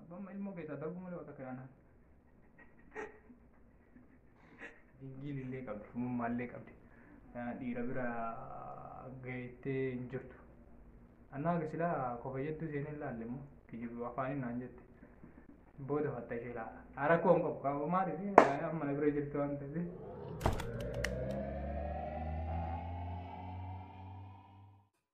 Abbaan ilmoo keessaa darbuu malee wata kayaanaan. Dingiin illee qabdi, humummaa illee qabdi. Dhiira bira gaheettee hin jirtu. Annaa gasilaa kofa jettuu seenee hin laalle immoo kijibu afaaniin naan jette. Booda fatta ishee laala. Rakkoo hin qabu qabu maaliif amma na bira jirtu waan ta'eef.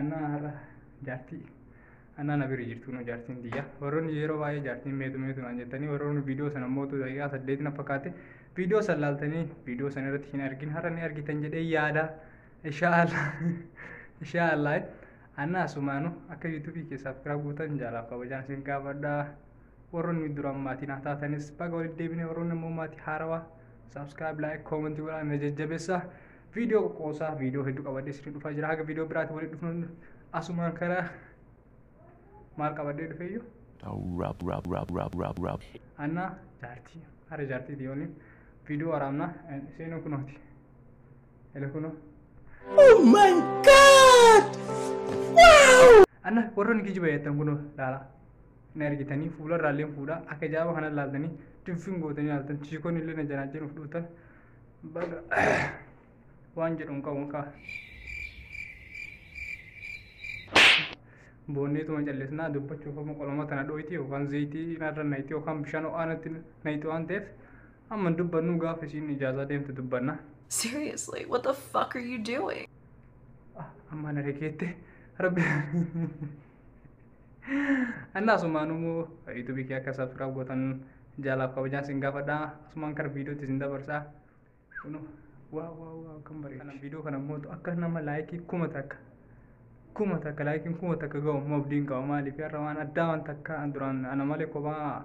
Anaa har'a jaartii anaa na bira jirtu nu jaartiin tiyya warroonni yeroo baay'ee jaartiin meetu meetu naan jettanii warroonni viidiyoo sana mootu daqiiqaa saddeet na fakkaate viidiyoo san laaltanii viidiyoo sana irratti hin argin har'a ni argitan jedhee yaada inshaallah inshaallah anaa sumaanu akka yuutuubii kee saabskiraab gootan jaalaaf kabajaan isin gaafadha warroonni duraan maatii naa taatanis baga walitti deebinee warroonni immoo maatii haarawaa saabskiraab laayik koomentii godhaan na jajjabeessaa Viidiyoo qoqqoosaa viidiyoo hedduu qabadhee sirrii dhufaa jira. Haga viidiyoo biraatti walitti dhufnu asumaan karaa maal qabadhee dhufeeyyuu. Anna jaartii hara jaartii diyooni viidiyoo waraabna seenuu kunooti. Ele kunoo. Oh my god! Wow! Anna warroonni kijiba jettan kunoo laala. Hin argitanii fuula irraallee fuudhaa akka jaaba kana laaltanii dubbiin gootanii laaltan chiikoonni illee na janaa jiruuf dhuutan baga waan jedhu hin qabu kaa boonneetuma callisnaa dubbachuuf amma qoloma tana dhooyti yookaan zayitii narra nayti yookaan bishaan ho'aanatti nayti waan ta'eef amma hin dubbannu gaafa isiin ijaazaa deemtu dubbanna Seriously, what the fuck are you doing? amma na dhageette rabbi Anna asumaan immoo yuutuubii kee akka sabskiraab gootan jaalaaf kabajaan sin gaafadha. Asumaan kara viidiyootti sin dabarsa. Kunu waa waa waa kan bareedu. Kana viidiyoo kana immoo akka nama laayikii kuma takka kuma takka laayikiin kuma takka ga'u immoo abdiin qaba maaliif har'a waan addaa waan takka duraan ana malee kophaa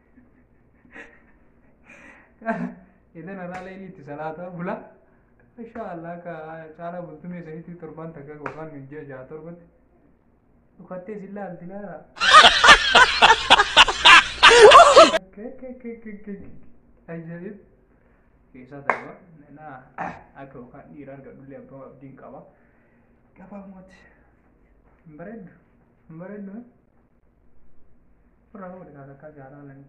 Idan irraa leelii itti salaataa bula. Insha Allah ka caalaa bultumee isaniitti torban takka yookaan miijjaa jaha torbatti. Dhukattee si laalti laala. Ajaa'ib. Keessaa darba. Naa akka yookaan dhiira argadhullee abbaa abdiin qaba. Gabaabumatti. Hin bareeddu. Hin bareeddu. Furraa nama dhiqaa kakkaa jaalaa lani.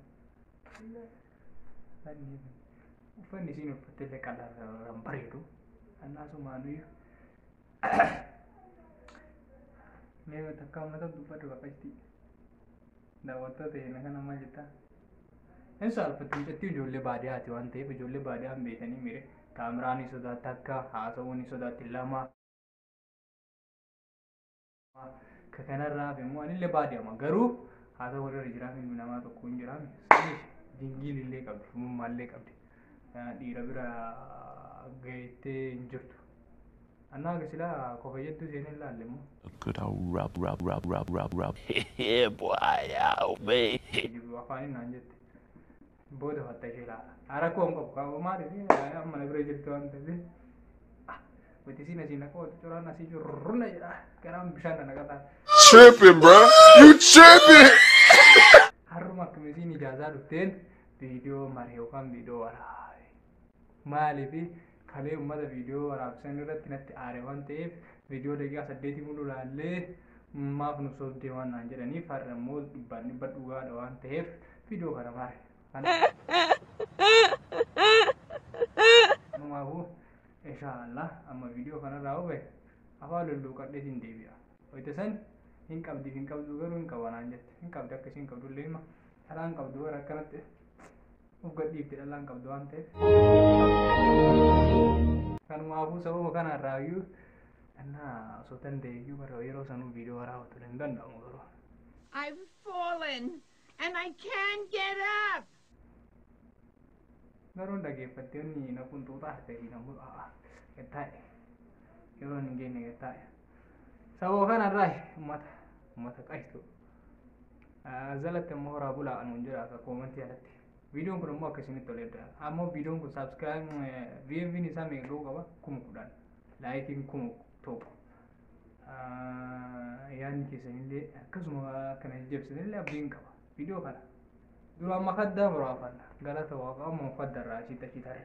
Uffanni isiin uffatte illee qalarraan bareedu. Annaasumaa nuyi. Mee takka uummata dubbadhu bakka itti daawwattoota keenya kana maal jettaa? Hin saalfatti mucattii ijoollee baadiyyaati waan ta'eef ijoollee baadiyyaa hin beekanii mire kaameraa ni sodaatti akka haasawuu ni sodaatti lama. Ka kanarraa hafe immoo anillee baadiyama garuu haa ta'u warra jiraame ilmi namaa tokko hin jiraame saniif dingiin illee qabdi shumummaa illee qabdi Eh, dhiira bira gahettee hin jirtu. Annaa akka silaa kofa jettuu seenee hin laalle immoo. Good old rub, rub, rub, rub, rub, rub. yeah, boy, yeah, oh, man. Jiru afaan hin naan jette. Booda fatta ishee laata. Rakkoo hin qabu qabu maaliif amma na bira jirtu waan ta'eef. Wanti siin asii naqoo curaan asii curruna jedha garaan bishaan na naqataa. Tripping, bro. You tripping. Harruma akkamitiin ijaazaa dhufteen viidiyoo maree yookaan viidiyoo waraabee. Maaliif kalee uummata viidiyoo waraabsan irratti natti aare waan ta'eef viidiyoo daqiiqaa saddeetii mul'u laallee maaf nu sobdee waan naan jedhaniif har'a immoo dhibbaan dhibba dhugaadha waan ta'eef viidiyoo kana maare. Kanaafuu inshaallah amma viidiyoo kanarraa hubee afaan lulluuqadhee siin deebi'a. Wayita san hin qabdi hin qabdu garuu hin qabanaan jette hin qabdi akka isiin qabdu illee hima dhalaa hin qabdu bara akkanatti of gadhiifte dhallaan qabdu waan ta'eef. Kanumaafuu sababa kanarraa iyyuu dhannaa osoo danda'e iyyuu bara yeroo sanuu viidiyoo waraabatu hin danda'amu garuu. I've fallen and I can't get up. Garuu dhaggeeffattee inni na qunxuuxaa ta'e na mul'aa. Gattaa'e. Yeroo hin geenye gattaa'e. Saboo kana irraa uummata uummata qashtu. Jalatti immoo horaa bulaa anuun jira akka koomantii alatti. Viidiyoon kun immoo akkasinitti ol edda. Ammoo viidiyoon kun saabskiraayib viiviin isaa meeqa ga'uu qaba? Kuma kudhan. Laayikiin kuma tokko. Yaadni keessanillee akkasuma kana jajjabsinillee abdiin qaba. Viidiyoo kana. Dura amma kaddaa muraafanna. Galata waaqa amma uffadda irraa ashiitti ashiitarra.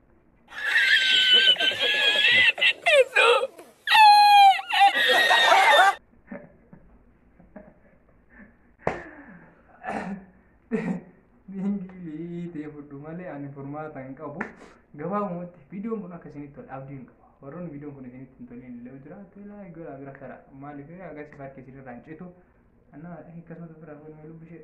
Lingii ta'e fudhu malee ani furmaata hin qabu. Gabaabumatti viidiyoon kun akka isinitti tolu abdii hin qabu. Warroonni viidiyoon kun isinitti hin tolin illee jiraate laa gara bira kara. Maaliif agarsiif harki isinirraa hin citu. Annaa akkasumatti bira fuudhee lubbishee.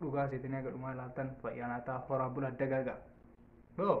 dhugaa seetanii haga dhumaa ilaaltan fayyaa naataa horaa bulaa dagaagaa. Boo!